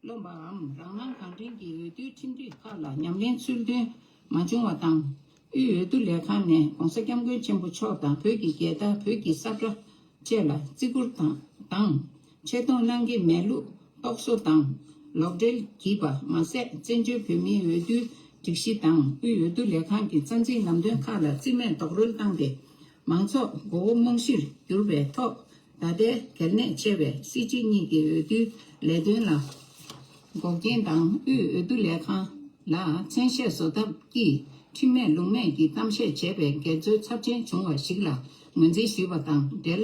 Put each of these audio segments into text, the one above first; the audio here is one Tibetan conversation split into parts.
རློམ་པའམ་རང་སྣང་གང་དྲན་གྱིས་འོས་བསྡུའི་ཁྲིམས་སྒྲིག་ཁག་ལ་ཉམས་ལེན་ཚུལ་མཐུན་མ་བྱུང་བ་དང། དབུས་འོས་བསྡུ་ལས་ཁང་ནས ྋགོང་ས ྋསྐྱབས་མགོན་ཆེན་པོ་མཆོག་དང་བོད་ཀྱི་རྒྱལ་དར་བོད་ཀྱི་ས་བཀྲ་བཅས་ལ་བརྩི་བཀུར་དང། ཆེ་མཐོང་སྣང་གི་མེད་ལུགས་རྟོག་བཟོ་དང་ལོག་འགྲེལ་བགྱིས་པ་མ་ཟད་བཙན་བྱོལ་བོད་མིའི་འོས་བསྡུའི་སྒྲིག་གཞི་དང་དབུས་འོས་བསྡུ་ལས་ཁང་གི་རྩ་འཛིན་ལམ་སྟོན་ཁག་ལ་རྩིས་མེད་རྡོག་རོལ་བཏང་སྟེ། མང་ཚོགས་མགོ་བོ་རྨོངས་གཞིར་བསྒྱུར་བའི་ཐོག་ད་ལྟའི་གལ་གནད་ཆེ་བའི་སྲིད་སྤྱི་གཉིས་ཀྱི་འོས་བསྡུའི་ལས་དོན་ལ་འགོག་རྐྱེན་དང་དབུས་འོས་བསྡུ་ལས་ཁང་ལ་མཚན་ཤས་བཟོ་ཐབས་ཀྱིས་ཁྲིམས་མེད་ལུགས་མེད་ཀྱི་གཏམ་བཤད་བྱས་པའི་འགལ་འཛོལ་ཚབས་ཆེན་བྱུང་བ་ཞིག་ལ་ངོས་འཛིན་ཞུས་པ་དང་འབྲེལ།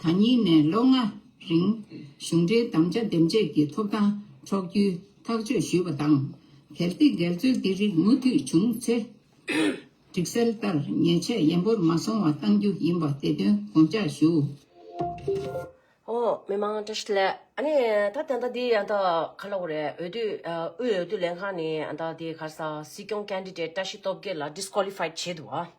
དང་གཉིས་ནས་ལོ་ལྔ་རིང་གཞུང་འབྲེལ་དམ་བཅའ་འདེམས་བྱེད་ཀྱི་ཐོབ་ཐང་འཕྲོག་རྒྱུའི་ཐག་གཅོད་ཞུས་པ་དང། གལ་ཏེ་འགལ་འཛོལ་འདི་རིགས་མུ་མཐུད་བྱུང་ཚེ། སྒྲིག་གསལ་ལྟར་ཉེས་ཆད་ཡན་པོར་མ་སོང་བ་གཏང་རྒྱུ་ཡིན་པ་དེ་དོན་དགོངས་འཇགས་ཞུ། ཨོ། མི་མང་བཀྲ་ཤིས་ལགས། ཨ་ནི། ད་དེ་འདྲ་འདི་འདྲ་ག་ལ་བོ་རེད། འོས་བསྡུ། དབུས་འོས་བསྡུ་ལས་ཁང་ནས་འདྲ་འདི་གར་ས། སྲིད་སྐྱོང Candidate བཀྲ་ཤིས་སྟོབས་རྒྱལ་ལ Disqualified བྱས་འདུག་བ།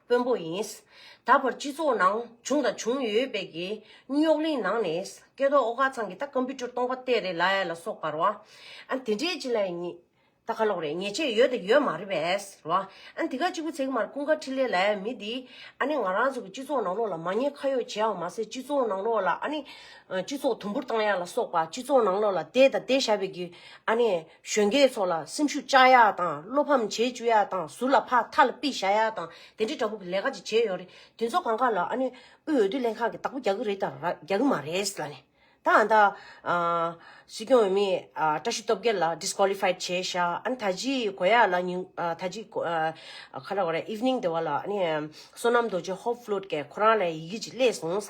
དཔོན་པོ་ཡིན། ད་བར་སྤྱི་ཚོགས་ནང་བྱུང་དང་བྱུང་ཡོད་པའི་གི་སྙུག་གླིང་ནང་ནས་སྐལ་རྡོར་ཨོ་དཀར་ཚང་གི་ད Computer སྟོང་པ་གཏད་རེད་ལ་ལ་སོགས་པར་བ་ཨན་དེ་འདྲའི་ཅི་ལ་ཡ་ཉི་ད་ཁ་ལོག་རེད་ཉེས་ཆད་ཡོད་དང་ཡོད་མ་རེད་པས་ར་བ་ཨན་དེ་ག་གཅིག་པུ་ཚེག་མར་ཀུན་དགའ་འཕྲིན་ལས་ལ་ཡ་མི་འདི་ཨ་ནི་ང་རང་ཚོ་གི་སྤྱི་ཚོགས་ནང་ལོགས་ལ་མ་ཉེས་ཁ་ཡོག་བྱེད་ཨང་མ་ཟད་སྤྱི་ཚོགས་ནང་ལོགས་ལ་ཨ་ནི་སྤྱི་ཚོགས་དུམ་བུར་བཏང་ཡ་ལ་སོགས་པ་སྤྱི་ཚོགས་ནང་ལོགས་ལ་གཏད་དང་གཏད་ཞབས་པའི་གི་ཨ་ནི། གཞོན་སྐྱེས་ཚོ་ལ་སེམས་ཤུགས་བཅག་ཡ་དང་བློ་ཕམ་བྱེད་བཅུག་ཡ་དང་ཟུར་ལ་ཕ་མཐའ་ལ་པི་བྱ་ཡ་དང་དེ་འདྲའི་འདྲ་པོ་གི་ལས་ཀ་ཅིག་བྱེད་ཡོད་རེད་དེ་ཚོ་གང་ག་ལ་ཨ་ནེ་དབུས་འོས་བསྡུ་ལྷན་ཁང་གི་བདག་པོ་རྒྱག་གི་རེད་དང་རྒྱག་གི་མ་རེད་ལ་ནི་ད་ཨ་མདའ་སྲིད་སྐྱོང་འོས་མི་བཀྲ་ཤིས་སྟོབས་རྒྱལ་ལ Disqualified བྱས་བཞག་ཨ་ནི་ད་ཅི་གོ་ཡ་ལ་ཉིན་ད་ཅི་གོ་ཁ་ར་གོ་ར Evening དེ་བ་ལ་ཨ་ནི་བསོད་ནམས་རྡོ་རྗེ Hope Flood ཀྱེ་ཁོ་རང་ལ་ཡི་གེ་ཅིག་གླས་སོང་ས་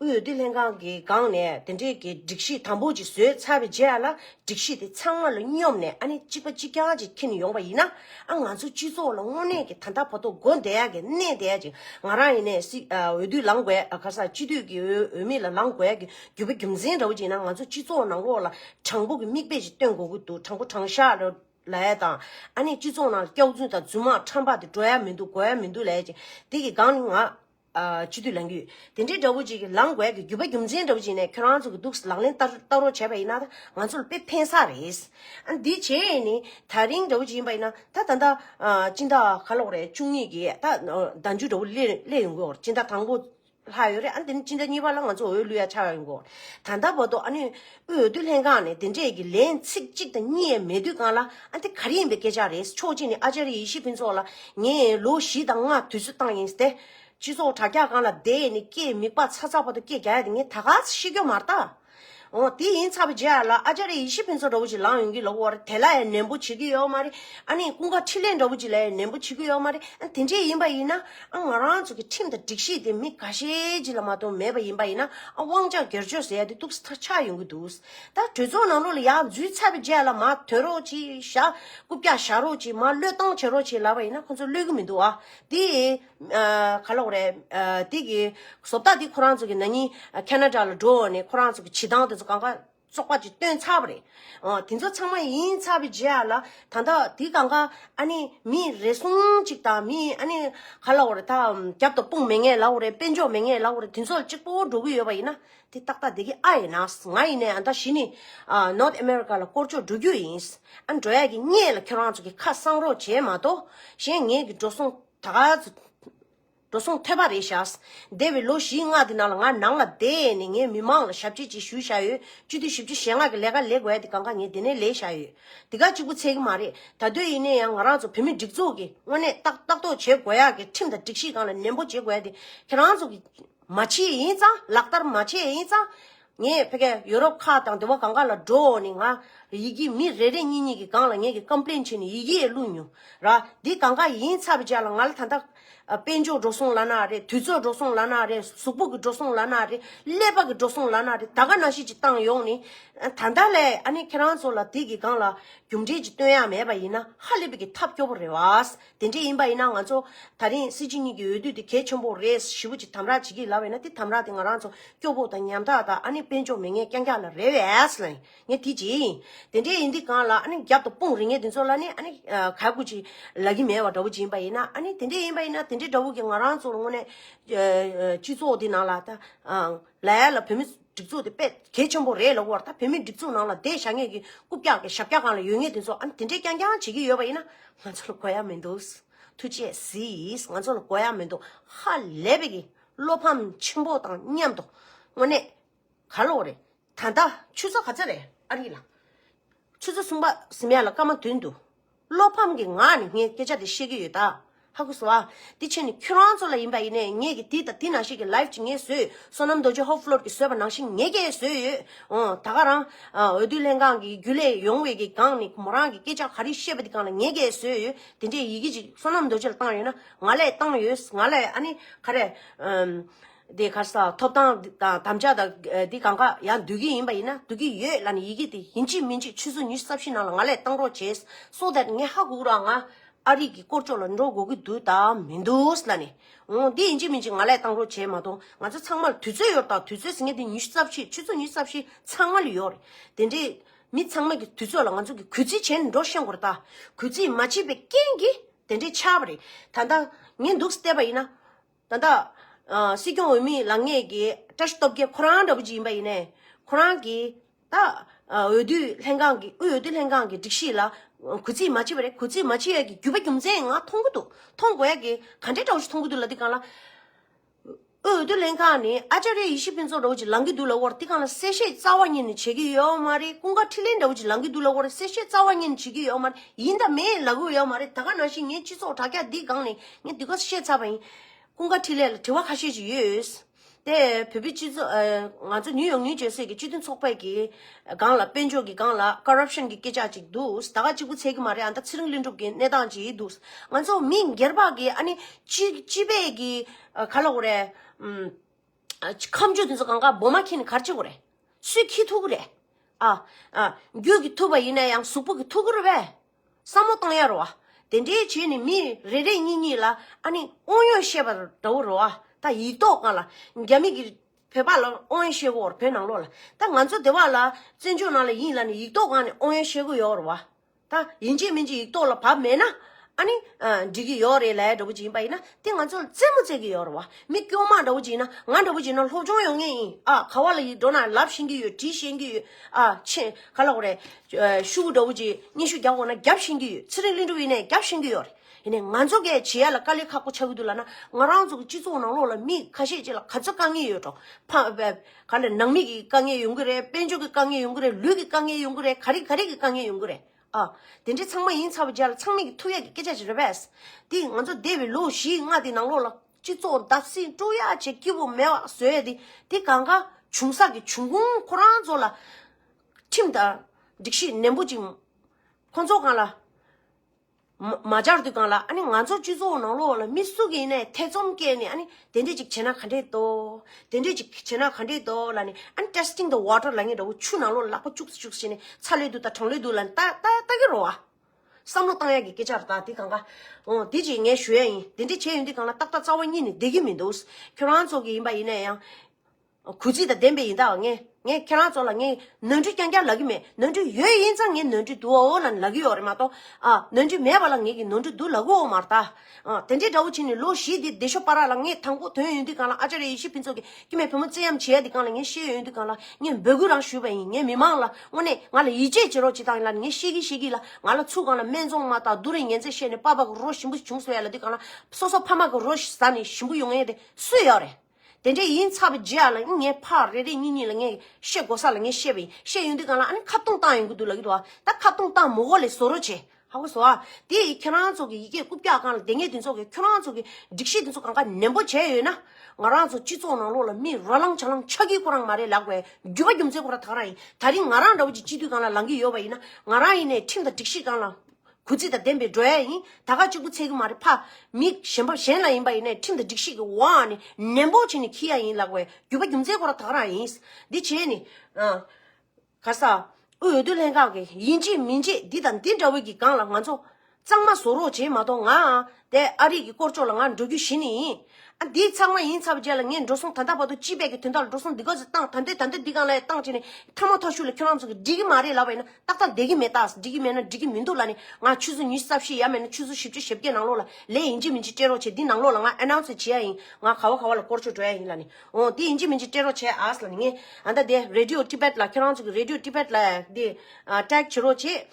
དབུས་འོས་བསྡུ་ལྷན་ཁང་གིས་སྒང་ནས་དེ་འབྲེལ་གྱི་སྒྲིག་གཞི་དམ་པོ་ཅིག་བཟོས་ཚར་བའི་རྗེས་ལ་སྒྲིག་གཞི་དེ་ཚང་མ་ལ་སྙོམས་ནས་ཨ་ནི་གཅིག་པ་གཅིག་རྐྱང་གཅིག་འཁྱེར་ནས་ཡོང་བ་ཡིན་ན་ཨ་ང་ཚོ་སྤྱི་ཚོགས་ལ་དངོས་གནས་ཀྱི་ད་ལྟ་བར་དོ་དགོན་བསྡད་ཡ་གི་གནས་བསྡད་ཡ་གཅིག་ང་རང་ཡིན་ནས་སྲིད་འོས་བསྡུ་ལང་དགོས་ཡ་ག་ས་སྤྱི་འཐུས་ཀྱི་འོས་མི་ལ་ལང་དགོས་ཡ་གི་རྒྱུ་བ་རྒྱུ་མཚན་འདྲ་བོ་ཅིག་ཡིན་ན་ང་ཚོ་སྤྱི་ཚོགས་ནང་ལོགས་ལ་དྲང་པོ་གི་མིག་དཔེ་ཅིག་སྟོན་དགོས་ཀྱི་འདུག་དྲང་པོ་དྲང་ཤག་ལ་ལ་ཡ་དང་ཨ་ནི་སྤྱི་ཚོགས་ནང་ལ་སྐྱག་རྫུན་དང་རྫུན་མ་ཁྲམ་པ་དེ་འགྲོ་ཡ་མི་འདུག་འགོ་ཡ་མི་འདུག་ལ་ཡ་གཅིག་དེ་གི་སྒང་ནི་ང། སྤྱི་འཐུས་ལང་རྒྱུད། དེ་འདྲའི་འདྲ་བོ་ཅིག་གིས་ལངས་དགོས་ཀི་རྒྱུད་པ་རྒྱུ་མཚན་འདྲ་བོ་ཅིག་ནས་ཁྱོད་རང་ཚོ་གི་འདུག་ལག་ལེན་བསྟར་བསྟར་རོགས་བྱས་པ་ཡིན་ན་ད་ང་ཚོ་ལ་དཔེ་ཕན་ས་རེད། ཨ་འདི་བྱས་ཡས་ནི་ད་རིང་འདྲ་བོ་ཅིག་ཡིན་པ་ཡིན་ན་ད་ད་ད། སྤྱི་ཟླ་ག་ལོག་རེད་བཅུ་གཉིས་ཀྱི་ད་ཟླ་མཇུག་འདྲ་བོ་སླེ་སླེ་ཡོང་གི་འོ་སྤྱི་ཟླ་དང་པོ། ལྷག་ཡོད་རེད་ཨ་འདི་ནི་སྤྱི་ཟླ་གཉིས་པ་ལ་ང་ཚོ་འོས་བླུ་ཡ་ཆ་ཡོང་གི་འོ། ད་ད་བོ་ཏོ་ཨ་ནི། འོས་བསྡུ་ལྷན་ཁང་ནས་དེ་འབྲེལ་གྱི་ལན་ཚིགས་གཅིག་དང་གཉིས་ཡས་མས་དུས་གང་ལ་ཨ་འདི་ག་རེ་ཡིན་པའི་སྐད་ཆ་རེད་ཕྱོགས་གཅིག་ནས་ཨ་ཅཱ་རི་ཡེ་ཤི་ཕུན་ཚོགས་ལ་ངས་ལོ་བཞི་དང་ལྔ་དུས་ཚོད་བཏང་ཡིན་ཏེ། སྤྱི་ཚོགས་དྲ་རྒྱ་གང་ལ་བསྡད་ནས་སྐད་མིག་པ་ཚ་ཚ་བ་དང་སྐད་རྒྱ་ཡ་དེ་ངས་ད་ག་ཚི་ཤེས་རྒྱུ་མ་རྟ། འོ་དེ་ཡིན་ཚར་བའི་རྗེས་ལ་ཨ་ཅཱ་རི་ཡེ་ཤི་ཕུན་ཚོགས་འདྲ་བོ་ཅིག་ལངས་ཡོང་གི་ལོག་བར་དེ་ལ་ཡང་ནན་པོ་བྱེད་ཀྱི་ཡོད་མ་རེད། ཨ་ནི་ཀུན་དགའ་འཕྲིན་ལས་འདྲ་བོ་ཅིག་ལ་ཡང་ནན་པོ་བྱེད་ཀྱི་ཡོད་མ་རེད། དེ་འདྲས་ཡིན་པ་ཡིན་ན་ང་རང་ཚོ་གི་ཁྲིམས་དང་སྒྲིག་གཞི་དེ་མི་ག་ཤེད་ཅིག་ལ་མ་གཏོགས་མེད་པ་ཡིན་པ་ཡིན་ན་དབང་ཆ་སྒེར་གཅོད་ཟེར་ཡ་དེ་གཏུགས་ས་ཐག་ཆག་ཡོང་གི་འདུག་ད་གྲོས་ཚོགས་ནང་ལོགས་ལ་ཡག་འཛུལ་ཚར་བའི་རྗེས་ལ་མ་དོན་རོགས་ཅིག་བཞག་རྐུབ་བཀྱག་བཞག་རོགས་ཅིག་མ་བློས་བཏང་བྱེད་རོགས་ཅིག་ལབ་པ་ཡིན་ན་ཁོ་ཚོ་བློས་གི་མི་འདུག་ཨ་དེ་ག་ལོག་རེད་དེ་གི་བཟོ་ལྟ་དེ་ཁོ་རང་ཚོ་གི་ན་ནིང་ཁ་ན་དྲ་ལ་འགྲོ་འོང་ནས་ཁོ་རང་ཚོ་གི་བྱེད་སྟངས་དེ་ཚོ་གང་ག། ཚོགས་པ་གཅིག་བཏོན་ཚར་བ་རེད། དེ་ཚོ་ཚང་མ་ཡིན་ཚར་བའི་རྗེས་ལ། ད་ལྟ་དེ་གང་གཱ་ཨ་ནི་མི་རེ་ཟུང་ཅིག་དང་མི་ཨ་ནི་ག་ལ་བ་རེ་ད་རྒྱབ་ཏུ་དཔུང་མེད་ངེས་ལ་བ་རེ་དཔེ་འཇོག་མེད་ངེས་ལ་བ་རེ་དེ་ཚོ་གཅིག་པོ་འགྲོ་གི་ཡོད་པ་ཡིན་ན། དེ་ཏག་ཏག་བསྡད་ཀྱི་ཨ་ཡིན། ང་ཡིན་ནའི་ད་གཞི་ནས North America ལ་བསྐོར་ཆོག་འགྲོ་རྒྱུ་ཡིན། ཨ་འགྲོ་ཡག་གི་རྙེད་ལ་ཁྱོད་རང་ཚོ་གི་ཁ་གསང་རོགས་བྱས་མ་གཏོགས་གཞན་ངེད་ཀྱི་འགྲོ་སོང་ད་ག་ཚོད། འགྲོ་གསུངས་ཐོས་པ་རེད་བྱ། འདས་པའི་ལོ་བཞིའི་སྔགས་དེ་ནང་ལ་ང་ནང་ལ་བསྡད་ནས་ངའི་མི་མང་ལ་ཞབས་ཕྱི་བྱེད་ཞུ་བྱ་ཡོད་བཅུ་བདུན་བཞི་བཅུ་ཞེ་ལྔ་གི་ལས་ཀ་ལེགས་བས་དེ་གང་ཁ་ངས་དེ་ནས་ལས་བྱ་ཡོད་དེ་ག་གཅིག་པུ་ཚད་ཀྱི་མ་རེད་ད་དུས་ཡིན་ནའི་ཡང་ང་རང་ཚོ་བོད་མི་སྒྲིག་འཛུགས་ཀྱི་དངོས་གནས་ཏག་ཏག་ཏོག་བྱེད་དགོས་ཡག་གི་ཁྲིམས་དང་སྒྲིག་གཞི་གང་ལ་ནན་པོ་བྱེད་དགོས་ཡག་དེ་ཁྱེད་རང་ཚོ་གི་མ་བྱེད་ཡིན་ཙང་ལག་བསྟར་མ་བྱེད་ཡིན་ཙང། ངས་ཕ་ག་ཡོ་རོབ་ཁག་དང་དེ་བ་གང་ག་ལ་འགྲོ་འོག་ནས་ང་ཡི་གི་མི་རེ་རེ་གཉིས་གཉིས་གི་སྒང་ལ་ངས་གི་ཀམཔླེན་བྱེད་ནས་ཡི་གི་ཡས་བླུགས་མྱོང་ར་འདི་གང་ག་ཡིན་ཚ་བི་ཅག་ལ་ང་ལ་ད་ལྟ་དཔལ་འབྱོར་འགྲོ་སོང་ལ་ན་རེ་དུས་ཚོད་འགྲོ་སོང་ལ་ན་རེ་གཟུགས་པོ་གི་འགྲོ་སོང་ལ་ན་རེ་ཀླད་པ་གི་འགྲོ་སོང་ལ་ན་རེ་ད་ག་ན་ཤེས་ཀྱི་ཏང་ཡོག་ནས་ད་ད་ལས་ཨ་ནེ་ཁྱེད་རང་ཚོ་ལ་དེ་གི་གང་ལ་རྒྱུ་འབྲས་ཀྱི་སྟོན་ཡག་མེད་པ་ཡིན་ན་ཧ་ལས་པི་གི་ཐབས་སྐྱོ་བོ་རེ་བ། དེ་འདྲ་ཡིན་པ་ཡིན་ན་ང་ཚོ་ད་རིང་སྲིད་སྤྱི་གཉིས་ཀྱི་འོས་བསྡུ་དེ་གལ་ཆེན་པོ་རེད་ཞི་བོ་ཅིག་དམ་རག་བྱེད་ཀྱི་ལབ་ཡོད་ན་དེ་དམ་རག་དེ་ང་རང་ཚོ་སྐྱོ་པོ་དང་ཉམ་ཐག་དང་ཨ་ནི་དཔེ་འཇོག་མི་ངན་རྐྱང་རྐྱང་ལ་རེ་བས་ལ་ཡིན་ངས་དེ་བྱེད་ཡིན་དེ་འདྲ་ཡིན་དུས་གང་ལ་ཨ་ནི་རྒྱབ་ཏུ་དཔུང་རེ་ངས་དེ་ཚོ་ལ་ནི་ཨ་ནི་ག་དགོས་ཅི་ལབ་ཀྱི་མེད་བ་འདྲ་བོ་ཅིག་ཡིན་པ་ཡིན་ན་ཨ་ནི་དེ་འདྲ་ཡིན་པ་ཡིན་ན་དེ་འདྲ་འདྲ་བོ་གི་ང་རང་ཚོར་དངོས་གནས་སྤྱི་ཚོགས་དེ་ནང་ལ་ད་ལ་ཡ་ལ་བོད་མི་སྒྲིག་འཛུགས་དེ་དཔེ་དེབ་ཆེན་པོ་རེད་ལ་དབོར་ཐ་བོད་མིའི་སྒྲིག་འཛུགས་ནང་ལ་བསྡད་བཞག་ངེས་ཀྱི་རྐུབ་བཀྱག་གི་ཞབས་བཀྱག་གང་ལ་ཡོད་ངེས་དེ་ཚོ་ཨ་ནི་དེ་འདྲས་རྐྱང་རྐྱང་བྱེད་ཀྱི་ཡོད་པ་ཡིན་ན་ང་ཚོ་ལ་གོ་ཡ་མི་འདུག་ཐུགས་རྗེ་གཟིགས་ང་ཚོ་ལ་གོ་ཡ་མི་འདུག་ཧ་ལས་པའི་གི་བློ་ཕམ་ཆེན་པོ་དང་མཉམ་དུ་དངོས་གནས་ག་ལོ་རེད་ད་ལྟ་ཆུ་ཚོད་ག་ཚོད་རེད་ཨ་རིག་ལགས་ཆུ་ཚོད་གསུམ་པ་ཟིམ་ཡ་ལ་སྐར་མ་བདུན་འདུག། བློ་ཕམ་གྱི་ངང་ནས་ངས་སྐད་ཆ་དེ་བཤད་ཀྱི་ཡོད་ད། ཧ་གོ་སོ་ཨ། དེ་ཕྱིར་ནི་ཁྱོད་རང་ཚོ་ལ་ཡིན་པ་ཡིན་ནས་ངས་ཀྱི་དེ་དང་དེ་ནང་བཞིན་གྱི་ལའི་ཅི་ངས་བཟོས་ཡོད་སོ་ནམ་རྡོ་རྗེ་ཧོབ་ཕློར་གྱིས་བཟོས་པ་ནང་བཞིན་ངས་ཀྱི་བཟོས་ཡོད་འོང་ད་ག་རང། འོས་བསྡུ་ལྷན་ཁང་གི་རྒྱུ་ལས་ཡོང་བའི་གི་གང་ནི་མོ་རང་གི་སྐད་ཆ་ག་རི་བཤད་པ་དེ་གང་ལ་ངས་ཀྱི་བཟོས་ཡོད་དེ་འདྲའི་ཡི་གེ་ཅིག་སོ་ནམ་རྡོ་རྗེ་ལ་བཏང་ཡོད་ན་ང་ལས་བཏང་ཡོད་ང་ལས་ཨ་ནི་ག་རེ། དེ་གར་སོགས་ཐོབ་ཐང་དང་དམ་བཅའ་དང་དེ་གང་གཱ་ཡང་འདུས་ཀྱི་ཡིན་པ་ཡིན་ན་འདུས་ཀྱི་ཡོད་ལ་ནི་ཡི་གེ་དེ་ཡིན་གཅིག་མིན་གཅིག་ཆུ་ཟོ་ཉི་ཟ་བཞིན་ནང་ལ་ང་ལས་གཏང་རོགས་བྱས་སོ་དེར་ངས་ཧ་གོ་རང་ང་ཨ་རིག་གི་སྐོར་ཅོག་ལ་འགྲོ་དགོས་ཀྱི་འདུག་ད་མི་འདུག་ལ་ནི་འོ་འདི་ཡིན་གཅིག་མིན་གཅིག་ང་ལས་གཏང་རོགས་བྱས་མ་གཏོང་ང་ཚོ་ཚང་མར་དུས་ཚོད་ཡོད་རེད་དང་དུས་ཚོད་ཟེར་མཁན་དེ་ཉི་ཤུ་རྩ་བཞི་ཆུ་ཚོད་ཉི་ཤུ་རྩ་བཞི་ཚང་མ་ལ་ཡོད་རེད་དེ་འདྲའི་མི་ཚང་མ་གི་དུས་ཚོད་ལ་ང་ཚོ་གི་གུས་བརྩི་བྱས་ནས་འགྲོ་ཤེས་དགོས་རེད་ད་གུས་བརྩི་མ་བྱས་པའི་རྐྱེན་གྱིས་དེ་འདྲའི་ཆགས་པ་རེད་ད་ལྟ་ངས་འདུག་བལྟས་པ་ཡིན་ན་ད་ལྟ། སྲིད་སྐྱོང་འོས་མིའི་ལངས་གནས་ཀྱི་བཀྲ་ཤིས་སྟོབས་རྒྱལ་ཁོ་རང་འདྲ་བོ་ཅིག་ཡིན་པ་ཡིན་ནས། ཁོ་རང་གིས་ད། འོས་བསྡུའི་ལྷན་ཁང་གི་དབུས་འོས་བསྡུ་ལྷན་ཁང་གི་སྒྲིག་གཞི་ལ། གུས་བརྩི་མ་བྱེད་པ་རེད་གུས་བརྩི་མ་བྱེད་ཡ་གི་རྒྱུས་པ་རྒྱུ་མཚན་ཡིན་ང་མཐོང་གི་འདུག་མཐོང་དགོས་ཡ་གི་ག་འདྲའི་འདྲ་བོ་ཞིག་མཐོང་གི་འདུག་ལ་འདི་གང་ལ། དབུས་འོས་བསྡུ་ལྷན་ཁང་ནི་ཨ་ཅཱ་རེ་ཡེ་ཤེས་ཕུན་ཚོགས་འདྲ་བོ་ཅིག་ལངས་ཀྱི་འདུག་ལ་དབོར་དེ་གང་ལ་གསལ་བཤད་རྩ་བ་ཉིད་ནས་བྱེད་ཀྱི་ཡོད་མ་རེད་ཀུན་དགའ་ཁྲི་ལེན་འདྲ་བོ་ཅིག་ལངས་ཀྱི་འདུག་ལ་དབོར་གསལ་བཤད་རྩ་བ་ཉིད་ནས་བྱེད་ཀྱི་ཡོད་མ་རེད་ཡིན་དང་མེད་ལ་གོ་ཡོད་མ་རེད་ད་ག་ནང་བཞིན་ངས་སྤྱི་ཚོགས་དྲ་རྒྱ་འདིའི་སྒང་ནས་ངས་འདི་ག་བཤད་ཚར་བ་ཡིན། ཀུན་དགའ་འཕྲིན་ལས་ལ་དྲི་བ་ཁ་ཤས་ཅིག་ཡོད། དེ་བོད་པའི་སྤྱི་ཚོགས། ང་ཚོ་ནིའུ་ཡོག་ནིའུ་ཇེར་སི་ཡི་སྤྱི་མཐུན་ཚོགས་པའི་སྒང་ལ་དཔལ་འབྱོར་གྱི་སྒང་ལ Corruption གྱི་སྐད་ཆ་ཅིག་འདུག་ད་ག་གཅིག་པུ་འཚལ་གྱི་མ་རེད་ཨ་མདའ་ཚེ་རིང་ལྷུན་གྲུབ་ཀྱི་གནས་སྟངས་ཅིག་འདུག་ང་ཚོ་མི་སྒེར་པགས་ཀྱི་ཨ་ནི། སྤྱི་པའི་གི། ག་ལ་འོ་རེད། ཁམས་ཆོས་དེ་ཚོ་གང་གཱ་འབོ་མ་ཁྱེད་ནི་གར་ཅིག་འོ་རེད། སུས་ཁྱི་ཐུག་གི་རེད། རྒྱུད་ཀྱི་ཐུག་པ་ཡིན་ན་ཡང་གཟུགས་པོ་གི་ཐུག་གི་རེད་པས། བསམ་བློ་གཏོང་ཡར་རོ་ཨ། དེ་འདྲའི་བྱེད་ནི་མི་རེ་རེ་གཉིས་གཉིས་ལ་ཨ་ནི་དབང་ཡོད་བཤད་པ་འདྲ་བོ་རོ་ཨ། ད་ཡིག་ཐོག་ང་ལ་རྒྱ་མི་གིས་བོད་པ་ལ་དབང་ཡོད་བཤད་གོ་བོད་ནང་ལོག་ལ། ད་ང་ཚོ་སྡེ་བ་ལ་བཙན་བྱོལ་ནང་ལ་ཡིན་ལ་ནི་ཡིག་ཐོག་ང་ནི་དབང་ཡོད་བཤད་གོ་ཡོད་རོ་ཨ། ད་ཡིན་གཅིག་མིན་གཅིག་ཡིག་ཐོག་ལ་བབ་མེད་ན་ཨ་ནི་འགྲིག་གི་ཡོད་རེད་ལའེ་འདྲ་བོ་ཅིག་ཡིན་པ་ཡིན་ན་དེ་ང་ཚོ་ལ་རྩེད་མོ་རྩེད་གི་ཡོད་རོ་ཨ། མི་སྐྱོ་མ་འདྲ་བོ་ཅིག་ཡིན་ན་ང་འདྲ་བོ་ཅིག་ཡིན་ན་སློབ་སྦྱོང་ཡོང་ངེས་ཡིན་ཨ། ག་བ་ལ་ཡིག་འགྲོ་ན་ལབ་ཤེས་ཀྱི་ཡོད་བྲིས་ཤེས་ཀྱི་ཡོད། ཨ། ཆེ། ག་ལ་གོ་རེ། ཤུ་བུ་འདྲ་བོ་གྱིས་སྙན་ཞུ་རྒྱག་དགོས་ན་རྒྱབ་བཞེངས་ཀྱི་ཡོད་ཚེ་རིང་ལིང་འདྲ་བོ་ཡིན་ནས་རྒྱབ་བཞེངས་ཀྱི་ཡོད་རེད། ཡིན་ནས་ང་ཚོ་གས་བྱེད་ཡ་ལ་དཀའ་ལས་ཁག་པོ་ཆགས་ཀྱི་འདུག་ལ་ན་ང་རང་ཚོ་གི་སྤྱི་ཚོགས་ནང་ལོགས་ལ་མི་ཁ་ཤས་ཅིག་ལ་ག་ཚོད་དཀའ་ངལ་ཡོད་འགྲོ། ཕ། ནང་མི་གི་དཀའ་ངལ་ཡོང་གི་རེད་དཔལ་འབྱོར་གི་དཀའ་ངལ་ཡོང་གི་རེད་ལུས་ཀྱི་དཀའ་ངལ་ཡོང་གི་རེད་ག་རེ་ག་རེ་གི་དཀའ་ངལ་ཡོང་གི་རེད་ཨ། དེ་འདྲའི་ཚང་མ་ཡིན་ཚར་བ་བརྒྱ་ལ་ཚང་མས་ཀྱི་ཐུགས་ཡག་གི་སྐད་ཆ་ཅིག་རེད་པས། དེ་ང་ཚོ་འདས་པའི་ལོ་བཞིའི་ལྔ་དེའི་ནང་ལོགས་ལ་སྤྱི་ཚོགས་བདག་བསྲིངས་དཀྲུག་ཡ་བྱེད་སྐྱིད་པོ་མེད་པ་བཟོས་ཏེ་དེ་གང་ག་བྱུང་ས་ཀྱི་བྱུང་ཁུངས་ཁོ་རང་ཚོ་ལ་ཁྲིམས་དང་སྒྲིག་གཞི་ནན་པོ་ཅིག་ཁོ་ཚོ་གང་ལ་མ་སྦྱར་དུས་གང་ལ་ཨ་ནི་ང་ཚོ་སྤྱི་ཚོགས་ནང་ལོགས་ལ་མི་སུ་གིས་ནས་ཐེ་ཚོམ་སྐྱེས་ནས་ཨ་ནི་དེ་འདྲས་ཅིག་བྱས་ན་ག་འདྲས་འདོག་དེ་འདྲས་ཅིག་བྱས་ན་ག་འདྲས་འདོག་ལ་ནི་ཨ་ནི testing the water ལ་ངས་འདྲ་བོ་ཆུ་ནང་ལོགས་ལ་ལག་པ་བཅུག་སི་བཅུག་སི་བྱས་ནས་ཚ་ལོས་འདུག་ད་གྲང་ལོས་འདུག་ལ་ནི་ལྟ་ལྟ་ལྟ་གི་རོགས་ཨ། བསམ་བློ་བཏང་ཡག་གི་སྐད་ཆ་རེ་ད་དེ་གང་གཱ། འོ་དེ་ཅིག་ངས་ཞུ་ཡག་ཡིན་དེ་འདྲའི་བྱས་ཡོད་འདི་གང་ན་ཏག་ཏག་རྩ་བ་གཉིས་ནས་བསྡད་ཀྱི་མི་འདུག་ཁྱོད་རང་ཚོ་གི་ཡིན་པ་ཡིན་ན་ཡང། གུས་བརྩི་དང་ལྡན་པའི་ཡིན་ད་ངས་ངས་ཁྱེད་རང་ཚོ་ལ་ངས་ནོར་འཁྲུལ་རྐྱང་རྐྱང་ལབ་ཀྱི་མེད་ནོར་འཁྲུལ་ཡོད་ཡིན་ཙང་ངས་ནོར་འཁྲུལ་འདུག་ཨོ་ལ་ལབ་ཀྱི་ཡོད་རེད་མ་གཏོགས་ཨ་ནོར་འཁྲུལ་མེད་པ་ལ་ངས་ཀྱི་ནོར་འཁྲུལ་འདུག་ལབ་གི་འོང་མ་རེད་ད། དེ་འདྲའི་དགྲ་བོ་བྱས་ནས་ལོ་བཞི་འདི་བདེ་ཤོག་པ་ར་ལ་ངས་དང་པོ་དོན་ཡོད་དུས་གང་ལ་ཨ་ཅར་ཡེ་ཤེས་ཕུན་ཚོགས་ཀྱིས་དཀྱུས་མའི་བུ་མོ་བརྩེ་ཡམ་བྱེད་ཡ་འདི་གང་ལ་ངས་ཤེས་ཡོད་དུས་གང་ལ་ངས་འབོད་སྐུལ་རང་ཞུས་པ་ཡིན་ངས་མི་མང་ལ་དངོས་གནས་ང་ལ་ཡིད་ཆེས་བྱེད་རོགས་བྱེད་དང་ཡིན་ལ་ངས་ཤེས་ཀྱི་ཤེས་ཀྱི་ལ་ང་ལ་ཚུར་གང་ལ་སྨད་འཚོང་མ་དང་རྡུང་རེས་ངན་ཚད་བཤད་ནས་པ་བ་གི་རོ་ཞིམ་པོ་བྱུང་སོང་ཡ་ལ་འདི་གང་ལ་སོ་སོ་ཕ་མ་གི་རོ་ཟ་ནས་ཞིམ་པོ་ཡོང་ངེས་དེ་སུས་ཡོད་རེད། དེ་འདྲ་ཡིན་ཚར་བའི་རྗེས་ལ་ངས་ཕར་རེ་རེ་གཉིས་གཉིས་ལ་ངས་བཤད་དགོ་ས་ལ་ངས་བཤད་པ་ཡིན་བཤད་ཡོང་དུས་གང་ལ་ཨ་ནི་ཁ་བཏུང་བཏང་ཡོང་གི་འདུག་ལགས་ཀྱི་འདུག་ཨ་ད་ཁ་བཏུང་བཏང་མོ་ཨོ་ལེ་བཟོ་རོ་བྱས་ཧ་གོ་བཟོ་ཨ་དེ་ཡིས་ཁྱེད་རང་ཚོ་གི་ཡི་གེ་རྐུབ་བཀྱག་གང་ལ་དེ་ངས་དེ་ཚོ་གི་ཁྱོད་རང་ཚོ་གི་སྒྲིག་གཞི་དེ་ཚོ་གང་ཁ་ནན་པོ་བྱས་ཡོད་ན་ང་རང་ཚོ་སྤྱི་ཚོགས་ནང་ལོགས་ལ་མི་རོ་ལངས་ཆ་ལངས་ཆགས་ཀྱི་ཁོ་རང་མ་རེད་ལགས་པས་རྒྱུ་བ་རྒྱུ་མཚན་ཁོ་རང་ཐག་རང་ཡིན་ད་རིང་ང་རང་འདྲ་བོ་ཅིག་སྤྱི་འཐུས་གང་ལ་ལངས་ཀྱི་ཡོད་པ་ཡིན་ན་ང་རང་ཡིན་ནས་ཁྲིམས་དང་སྒྲིག་གཞི་གང་ལ་གུས་བརྩི་དང་ལྡན་པའི་འགྲོ་ཡ་ཡིན་ད་ག་གཅིག་པུ་ཚད་གི་མ་རེད་ཕ། མི་གཞན་པ་གཞན་ལ་ཡིན་པ་ཡིན་ནས་ཁྲིམས་དང་སྒྲིག་གཞི་གི་འོག་ནས་ནན་པོ་བྱས་ནས་འཁྱིལ་ཡ་ཡིན་ལགས་པས་རྒྱུད་པ་རྒྱུ་མཚན་ཁོ་ར་དག་རང་ཡིན། འདི་བྱས་ནས། ག་ས། དབུས་འོས་བསྡུ་ལྷན་ཁང་གིས་ཡིན་གཅེས་མིན་གཅེས་འདི་དང་འདི་འདྲ་བོའི་གི་སྒང་ལ་ང་ཚོ་གཙང་མ་བཟོ་རོགས་བྱས་མ་གཏོགས་ང། དེ་ཨ་རིག་གི་སྐོར་ཅོག་ལ་ང་འགྲོ་རྒྱུ་གཞི་ནས་ཡིན། ཨ་འདི་ཚང་མ་ཡིན་ཚར་བ་རྗེས་ལ་ངས་འགྲོ་སོང་ད་ལྟ་བར་དུ་སྤྱི་བེད་ཀྱི་དོན་དག་ལ་འགྲོ་སོང་འདི་ག་ཟིག་བཏང་ད་འདི་ད་འདི་འདི་གང་ལ་ཡང་བཏང་བྱས་ནས་མཐའ་མ་ཐོག་ཤུགས་ལ་ཁྱོད་རང་ཚོ་གི་འགྲིག་གི་མ་རེད་ལབ་པ་ཡིན་ན་ཏག་ཏག་བསྡད་ཀྱི་མེད་ཏག་འགྲིག་གི་མེད་ན་འགྲིག་གི་མི་འདུག་ལ་ནི་ང་ཆུ་ཚོད་ཉི་ཤུ་རྩ་བཞི་ཡ་མེད་ན་ཆུ་ཚོད་བཞི་བཅུ་ཞེ་བརྒྱད་ནང་ལོགས་ལ་ལས་ཡིན་གྱི་མིན་གྱི་སྤྲད་རོགས་བྱས་འདི་ནང་ལོགས་ལ་ང announce བྱེད་ཡ་ཡིན་ང་ག་བ་ག་བ་ལ་སྐོར་ཆོད་འགྲོ་ཡ་ཡིན་ལ་ནི་འོང་འདི་ཡིན་གྱི་མིན་གྱི་སྤྲད་རོགས་བྱས་ཨཱས་ལ་ནི་ངས་ད་ལྟ་འདི radio tibet ལ་ཁྱོད་རང་ཚོ་གི radio tibet ལ་འདི tag བྱེད་རོགས་བྱས།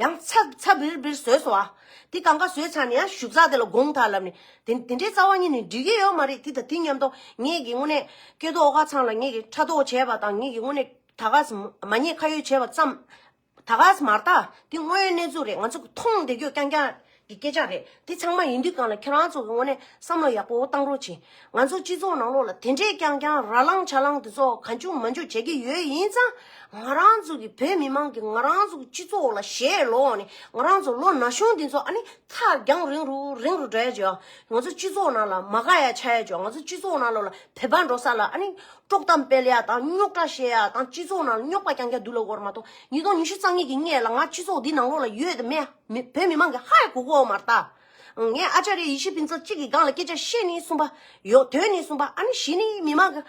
ཡང་ཚགས་ཚགས་བིར་བིར་ཟོས་སོ། དེ་གང་ག་ཟོས་ཚར་ནས་ཡང་ཞུགས་ཚགས་དེ་ལ་དགོངས་དག་ལབ་ནས། དེ་འདྲའི་རྩ་བ་གཉིས་ནི་འགྲིག་གི་ཡོད་མ་རེད་དེ་དང་དེ་མཉམ་དུ་ངེད་ཀྱིས་དངོས་གནས་སྐལ་རྡོ་ཨོ་ཁ་ཚང་ལ་ངེད་ཀྱིས་ཕྲ་དོག་བྱས་པ་དང་ངེད་ཀྱིས་དངོས་གནས་ད་གཟ་མ་ཉེས་ཁ་ཡོད་བྱས་པ་ཙམ། ད་གཟ་མར་ད་དེ་དངོས་གནས་ཚུ་རེད་ང་ཚོ་མཐོང་བདེ་ཁྱོད་རྐྱང་རྐྱང། གི་སྐད་ཆ་རེད་དེ་ཚང་མ་ཡིན་དུས་གང་ལ་ཁྱེད་རང་ཚོ་གི་ངོ་ནས་བསམ་བློ་ཡག་པོ་བཏང་རོགས་བྱིན། ང་ཚོ་སྤྱི་ཚོགས་ནང་ལོགས་ལ་དེ་འདྲའི་ཀྱང་ཀྱང་ར་ལང་ཆ་ལང་དེ་ཚོ་ག་འཇུག་མ་འཇུག་བྱེད་ཀྱི་ཡོད་ཡིན་ཙང། ང་རང་ཚོ་གི་བོད་མི་མང་གི་ང་རང་ཚོ་གི་སྤྱི་ཚོགས་ལ་ཞེ་ལོག་ནས་ང་རང་ཚོ་ལོ་ན་གཞོན་དེ་ཚོ་ཨ་ནི་ཚ་རྒྱང་རིང་རུ་རིང་རུ་འགྲོ་ཡ་བྱེད་ཨ། ང་ཚོ་སྤྱི་ཚོགས་ནང་ལ་མ་དགའ་ཡ་ཆ་ཡ་བྱེད་ཨ་ང་ཚོ་སྤྱི་ཚོགས་ནང་ལོགས་ལ་བོད་པ་འགྲོ་ས་ལ་ཨ་ནི་དཀྲོག་གཏམ་སྤེལ་ཡ་དང་རྙོག་དྲ་བཤད་ཡ་དང་སྤྱི་ཚོགས་ནང་ལ་རྙོག་པ་ཀྱང་ཀྱང་འདུག་ལ་འོར་མ་གཏོགས་ཉིས་སྟོང་ཉི་ཤུ་རྩ་གཉིས་ཀྱི་སྔས་ལ་ང་སྤྱི་ཚོགས་འདི་ནང་ལོགས་ལ་ཡོད་དུ་མེད་ཨ། བོད་མི་མང་གི་ཧ་གོ་གོ་མ་རྟ། ངས་ཨ་ཅག་རེ་ཡི་ཤི་ཕིན་ཚོ་གཅིག་གི་སྒང་ལ་སྐད་ཆ་བཤད་ནི་གསུངས་པ། ཡོད་དོན་ནི་གསུངས་པ་ཨ་ནི་བཞི་ནི་མི་མང་གི།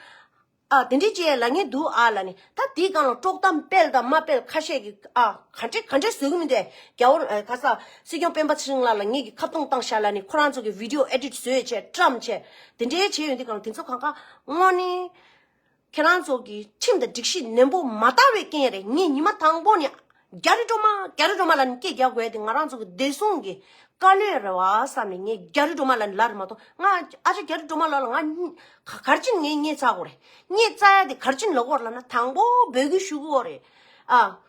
ཨ་དེ་འདྲི་བྱེད་ལ་ངས་འདུག་ཨ་ལ་ནི་ད་དེའི་སྒང་ལ་དཀྲོག་གཏམ་སྤེལ་དང་མ་སྤེལ་ཁ་ཤས་ཀྱི་ཨ་ག་འདྲེ་ག་འདྲེ་བཟོས་གི་མིན་ཏེ་རྒྱ་བོར་ག་ས་སྲིད་སྐྱོང་སྤེན་པ་ཚེ་རིང་ལགས་ལ་ངེད་ཀྱི་ཁ་བརྡུང་བཏང་ཤག་ལ་ནི་ཁོ་རང་ཚོ་གི་བིད་དེ་ཨོ་ཨེ་དྲིད་བཟོས་བྱས་བཀྲམས་བྱས་དེ་འདྲེ་བྱས་ཡོད་འདི་གང་དེ་ཚོ་གང་ཀ་ངོ་ནི། ཁྱེད་རང་ཚོ་གིས་ཁྲིམས་དང་སྒྲིག་གཞི་ནན་པོ་མ་བལྟ་བའི་རྐྱེན་རེད་ངས་ཉི་མ་དང་པོ་ནས་རྒྱ་རི་སྒྲོལ་མ་རྒྱ་རི་སྒྲོལ་མ་ལ་ནི་སྐད་རྒྱག་དགོས་དེ་ང་རང་ཚོ་གི་བདེ་སྲུང་གི་བཀའ་བློན་རེད་བ་བསམ་ནས་ངས་རྒྱ་རི་སྒྲོལ་མ་ལ་ནི་ལར་མ་གཏོགས་ང་ཨ་ཅག་རྒྱ་རི་སྒྲོལ་མ་ལགས་ལ་ང་གར་ཕྱིན་ངས་རྙེད་ཚ་གོ་རེད་རྙེད་ཚ་ཡ་དེ་གར་ཕྱིན་ལོག་གོ་ར་ལ་ན་དང་པོ་འབོད་སྐུལ་ཞུ་གོ་རེད་ཨ།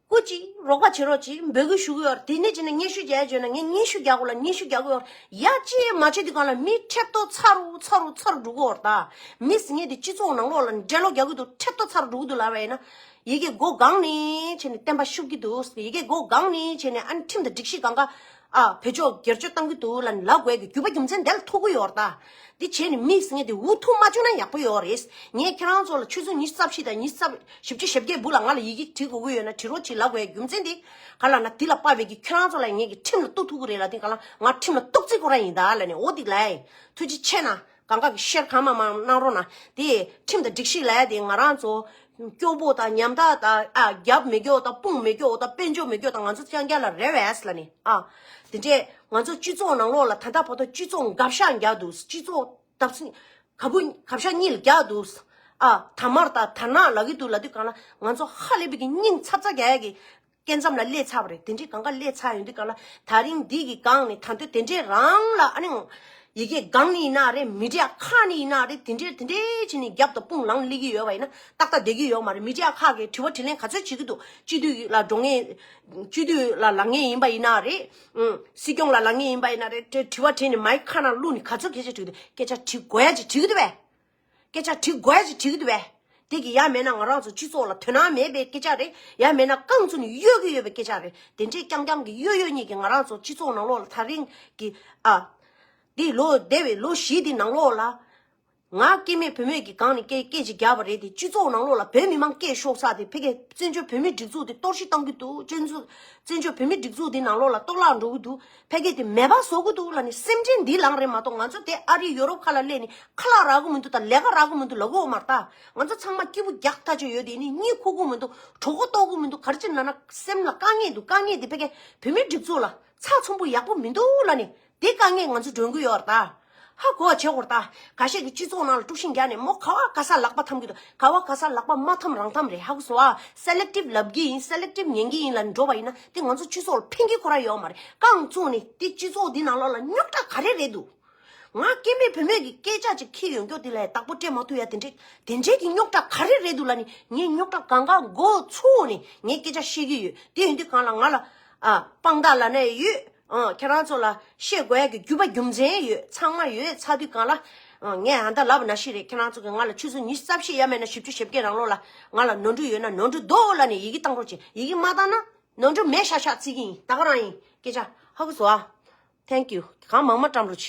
ཀུ་ཅི། རོགས་པ་བྱེད་རོགས་ཅི་འབོད་གུ་ཞུ་གུ་ཡོད་དེ་ནས་ཅི་ནས་སྙན་ཞུ་རྒྱལ་བྱོས་ན་ངས་སྙན་ཞུ་རྒྱག་གུ་ལ་སྙན་ཞུ་རྒྱག་གུ་ཡོད་ཡ་ཅི་ཡས་མ་བྱེད་དུས་གང་ལ་མི་ཁྲེལ་གཏོ་ཚ་རུ་ཚ་རུ་ཚ་རུ་འགྲོ་གུ་ཡོད་ད་མི་སི་ངས་དེ་སྤྱི་ཚོགས་ནང་ལོག་ལ་འགྲེལ་ལོག་རྒྱག་གུ་འདུག་ཁྲེལ་གཏོ་ཚ་རུ་འགྲོ་གུ་འདུག་ལབ་པ་ཡིན་ན་ཡི་གེ་སྒོ་སྒང་ནས་བྱས་ནས་བསྟན་པ་ཤུགས་ཀྱི་འདུག་ཡི་གེ་སྒོ་སྒང་ནས་བྱས་ནས་ཨ་ནི་ཁྲིམས་དང་སྒྲིག་གཞི་གང་ག་ཨ་བྷེ་མཆོག་སྒེར་གཅོད་བཏང་གི་འདུག་ལ་ནི་ལ་དགོས་ཀྱི་རྒྱུ་བ་རྒྱུ་མཚན་དེ་ལ་ཐུག་གི་ཡོག་རྟ། འདི་བྱས་ནས་མིག་ཟིང་ངེ་དེ་འུ་ཐུག་མ་བཅོས་ན་ཡག་པོ་ཡོག་རེད། ངས་ཁྱེད་རང་ཚོ་ལ་ཆུ་ཚོད་ཉི་རྩ་བཞི་དང་ཉི་རྩ་བཞི་བཅུ་ཞེ་བརྒྱད་སྦུག་ལ་ང་ལ་ཡི་གེ་བྲི་དགོས་ཀྱི་ཡོད་ན་བྲི་རོགས་གྱིས་ལ་དགོས་ཀྱི་རྒྱུ་མཚན་དེ་ག་ལ་ན་དེ་ལ་དཔའ་བེད་ཀྱིས་ཁྱེད་རང་ཚོ་ལ་ངེད་ཀྱི་ཁྲིམས་ལ་གཏུག་ཐུག་གི་རེད་ལ་དེ་ག་ལ་ང་ཁྲིམས་ལ་གཏུག་རྩིས་ཁོ་རང་ཡིན་ད་ལ་ནི་འོ་དིག་ལའི། ཐུགས་རྗེ་ཆེ་ན། གང་ག་གི་ཤེར་གང་མ་མང་གནང་རོགས་གནང། དེ་ཁྲིམས་དང་སྒྲིག་གཞི་ལས་དེ་ང་རང་ཚོ། སྐྱོ་པོ་དང་ཉམ་ཐག་དང་ཨ་རྒྱབ་མི་སྐྱོ་དང་དཔུང་མི་སྐྱོ་དང་དཔེ་འཇོག་མི་སྐྱོ་དང་ང་ཚོ་རྐྱང་རྐྱང་ལ་རེ་བས་ལ་ནི་ཨ། དེ་འདྲས་ང་ཚོ་སྤྱི་ཚོགས་ནང་ལོགས་ལ་ད་ལྟ་བར་དུ་སྤྱི་ཚོགས་འགབ་ཤ་རྒྱག་འདུག་སྤྱི་ཚོགས་གབ་བུ་གབ་ཤ་གཉིས་ལ་རྒྱག་འདུག་ཨ། དར་དམར་དང་དར་ནག་ལ་གི་འདུག་ལ་དུས་གང་ལ་ང་ཚོ་ཧ་ལས་པའི་གི་སྙིང་ཚབ་ཚ་རྒྱ་ཡ་གི། སྐད་མཚམས་ལ་སླེ་ཚ་བ་རེད་དེ་འདྲའི་གང་ག་སླེ་ཚ་ཡོང་དུས་གང་ལ་ད་རིང་འདི་གི་སྒང་ནི་ད་འདོད་དེ་འདྲའི་རང་ལ་ཨ་ནི་ཡི་གེ་སྒང་ནི་ཡིན་ན་རེད་མི་དྲའ་ཁ་ནི་ཡིན་ན་རེད་དེ་འདྲའི་དེ་འདྲའི་ཆེ་ནི་རྒྱབ་ཏུ་དཔུང་ལང་སླེ་གི་ཡོད་བ་ཡིན་ན་ཏག་ཏག་བསྡད་ཀྱི་ཡོད་མ་རེད་མི་དྲའ་ཁ་གི་དྲི་བ་དྲི་ལན་ག་ཚོད་བྱེད་ཀྱི་འདུག་སྤྱི་འཐུས་ལ་འགྲོ་ངེས་སྤྱི་འཐུས་ལ་ལང་ངེས་ཡིན་པ་ཡིན་ན་རེད་ཨང་སྲིད་སྐྱོང་ལ་ལང་ངེས་ཡིན་པ་ཡིན་ན་རེད་དྲི་བ་དྲིས་ནི་མ་ཡི་ཁ་ནང་བླུགས་ནི་ག་ཚོད་སྐད་ཆ་དྲི་གི་འདུག་སྐད་ཆ་དྲི་གོ་ཡ་གཅིག་དྲི་གི་འདུག་བས། སྐད་ཆ་དྲི་བརྒལ་གྱིས་དྲིས་འདུག་པས། དེ་གི་ཡ་མེད་ན་ང་རང་ཚོ་སྤྱི་ཚོགས་ལ་དོན་སྣང་མེད་པའི་སྐད་ཆ་རེད་ཡ་མེད་ན་རྐང་ཚུན་གཡོ་གི་ཡོད་པའི་སྐད་ཆ་རེད་དེ་འདྲས་རྐྱང་རྐྱང་གི་གཡོ་གཡོ་གཉིས་ཀྱིས་ང་རང་ཚོ་སྤྱི་ཚོགས་ནང་ལོགས་ལ་ཐག་རིང་གི་ཨ། འདི་ལོ་འདས་པའི་ལོ་བཞི་འདི་ནང་ལོགས་ལ། ང་སྐྱེས་མེད་བུད་མེད་ཀྱི་སྒང་ནས་སྐད་སྐད་ཅིག་རྒྱག་པ་རེད་དེ་སྤྱི་ཚོགས་ནང་ལོགས་ལ་བོད་མི་མང་སྐད་ཤོག་ཚགས་དེ་ཕལ་སྐད་བཙན་བྱོལ་བོད་མིའི་སྒྲིག་འཛུགས་དེ་གཏོར་བཤིག་གཏང་གི་འདུག་སྤྱི་ཚོགས་བོད་མིའི་སྒྲིག་འཛུགས་དེ་ནང་ལོགས་ལ་གཏོར་བརླག་འགྲོ་གི་འདུག། ཕལ་སྐད་དེ་མེད་པ་བཟོ་གི་འདུག་ལ་ནི་སེམས་ཅན་འདི་ལང་རེད་མ་གཏོགས་ང་ཚོ་དེ་ཨ་རི་ཡོ་རོབ་ཁ་ལ་སླེ་ནི་ཁ་ལག་རག་གི་མི་འདུག་དང་ལས་ཀ་རག་གི་མི་འདུག་ལ་འོ་མར་ལྟ་ང་ཚོ་ཚང་མ་སྐྱིད་པོ་རྒྱག་ཐག་ཆོད་ཡོད་དེ་ནི་གཉིད་ཁུག་གི་མི་འདུག་གྲོགས་པོ་ལྟོགས་གི་མི་འདུག་གར་ཅིག་ན་ན་སེམས་ལ་དཀའ་ངལ་འདུག་དཀའ་ངལ་དེ་ཕལ་སྐད་བོད་མིའི་སྒྲིག་འཛུགས་ལ་ཚགས་ཚོམ་བུ་ཡག་པོ་མི་འདུག་ལ་ནི་དེ་དཀའ་ངལ་ང་ཚོ་སྒྲོན་གི་ཡོད་ལྟ། ཧ་གོ་བ་བྱེད་དགོས་རྟ། ག་ཤེད་ཀྱི་སྤྱི་ཚོགས་ནང་ལ་དཀྲུགས་ཤིང་རྒྱག་ནས་མོ་ག་བ་ག་ས་ལག་པ་འཐམ་གི་འདུག་ག་བ་ག་ས་ལག་པ་མ་འཐམ་རང་འཐམ་རེད་ཧ་གོ་སོ་ཨ། Selective ལབ་གི་ཡིན Selective ཉན་གི་ཡིན་ལ་འགྲོ་བ་ཡིན་ན་དེ་ང་ཚོ་སྤྱི་ཚོགས་ལ་ཕན་གི་ཁོ་ར་ཡོད་མ་རེད་རྐང་བཙུགས་ནས་དེ་སྤྱི་ཚོགས་འདི་ནང་ལོགས་ལ་རྙོག་དྲ་ག་རེ་རེད་འདུག། ང་སྐྱེས་པའི་བུ་མོས་ཀྱི་སྐད་ཆ་ཅིག་ཁྱི་ཡོང་རྒྱོག་དེ་ལ་ཡ་དག་པོ་སྤྲད་མ་ཐུབ་ཡ་དེ་འདྲས་དེ་འདྲས་ཀྱི་རྙོག་དྲ་ག་རེ་རེད་འདུག་ལ་ནི་ངས་རྙོག་དྲ་གང་གང་འགོ་ཚུགས་ནས་ངས་སྐད་ཆ་བཤད་ཀྱི་ཡོད་དེ་ཡིན་དུས་གང་ལ་ང་ལ་ཨ། སྤང་དག་ལ་ནས་ཡོད། ཁྱེད་རང་ཚོ་ལ་ཤེས་དགོས་ཀྱི་རྒྱུས་པ་རྒྱུ་མཚན་ཡོད་ཚང་མ་ཡོད་ཚ་དུས་གང་ལ། ངས་ཨ་མདའ་ལབ་ན་ཤི་རེད་ཁྱེད་རང་ཚོ་གིས་ང་ལ་ཆུ་ཚོད་ཉི་ཤུ་རྩ་བཞི་ཡ་མེད་ན་བཞི་བཅུ་ཞེ་བརྒྱད་རང་ལོ་ལ་ང་ལ་ནོར་འཁྲུལ་ཡོད་ན་ནོར་འཁྲུལ་རྡོ་ལ་ནས་ཡི་གེ་བཏང་རོགས་བྱས་ཡི་གེ་མ་བཏང་ན་ནོར་འཁྲུལ་མེད་ཤག་ཤག་བརྩི་གི་ཡིན་ད་ག་རང་ཡིན་སྐད་ཆ་ཧ་གོ་བཟོ་ཨ། Thank you། གང་མང་མ་བཀྲམ་རོགས་བྱས།